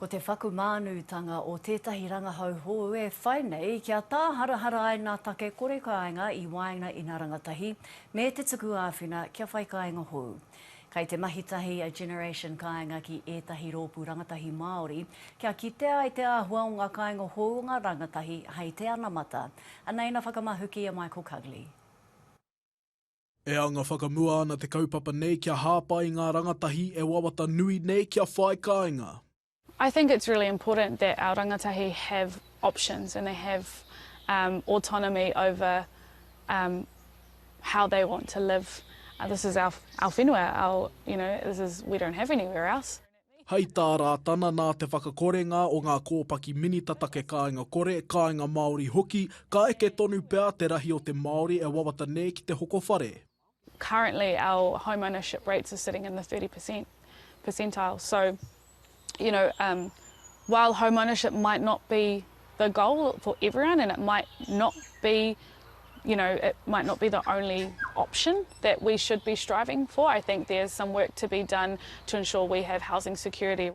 Ko te whakumānūtanga o tētahi rangahau hou e whai nei kia tāharahara ai nā take kore kāinga i waenga i nā rangatahi me te tuku āwhina kia whai kāinga hou. Kei te mahi tahi a Generation Kāinga ki ētahi rōpū rangatahi Māori kia kitea ai te āhua o ngā kāinga hou o ngā rangatahi hei te anamata. Anei nā whakamahuki a Michael Cugley. E anga whakamua ana te kaupapa nei kia hāpai i ngā rangatahi e wawata nui nei kia whai kāinga. I think it's really important that our rangatahi have options and they have um autonomy over um how they want to live. This is our our whenua, our you know, this is, we don't have anywhere else. Hei tā Rātana nā te whakakorenga o ngā kōpaki Minita Take Kāinga Kore, Kāinga Māori hoki, ka eke tonu pea te rahi o te Māori e wawata nei ki te hoko whare. Currently our home ownership rates are sitting in the 30 per cent percentile so you know um while home ownership might not be the goal for everyone and it might not be you know it might not be the only option that we should be striving for I think there's some work to be done to ensure we have housing security.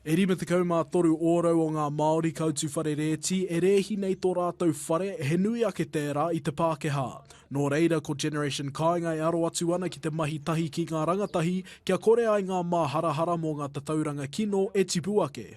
E 53 ōrau o ngā Māori kautu whare rēti e rēhi nei tō rātou whare, he nui ake tērā i te Pākehā. Nō reira, ko Generation Kāinga e aro atu ana ki te mahi tahi ki ngā rangatahi kia kore ai ngā māharahara mō ngā tatauranga kino e tipu ake.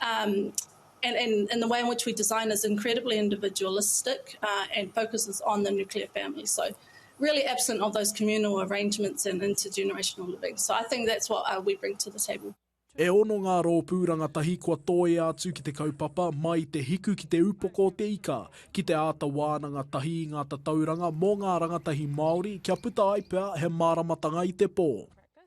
Um, and, and, and the way in which we design is incredibly individualistic uh, and focuses on the nuclear family. So, really absent of those communal arrangements and intergenerational living. So, I think that's what uh, we bring to the table. E ono ngā rōpū rangatahi kua tōia atu ki te kaupapa mai te hiku ki te upoko o te ika, ki te āta wānanga tahi i ngā tatauranga mō ngā rangatahi Māori kia puta ai pea he māramatanga i te pō.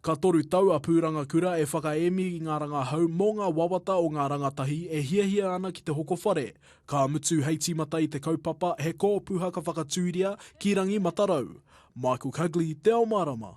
Ka toru tau a Pūrangakura e whakaemi i ngā rangahau mō ngā wawata o ngā rangatahi e hiahia ana ki te hoko whare, ka mutu hei tīmata i te kaupapa He Kōpuha ka Whakatūria ki Rangi Matarau. Michael Cugley, Te Ao Mārama.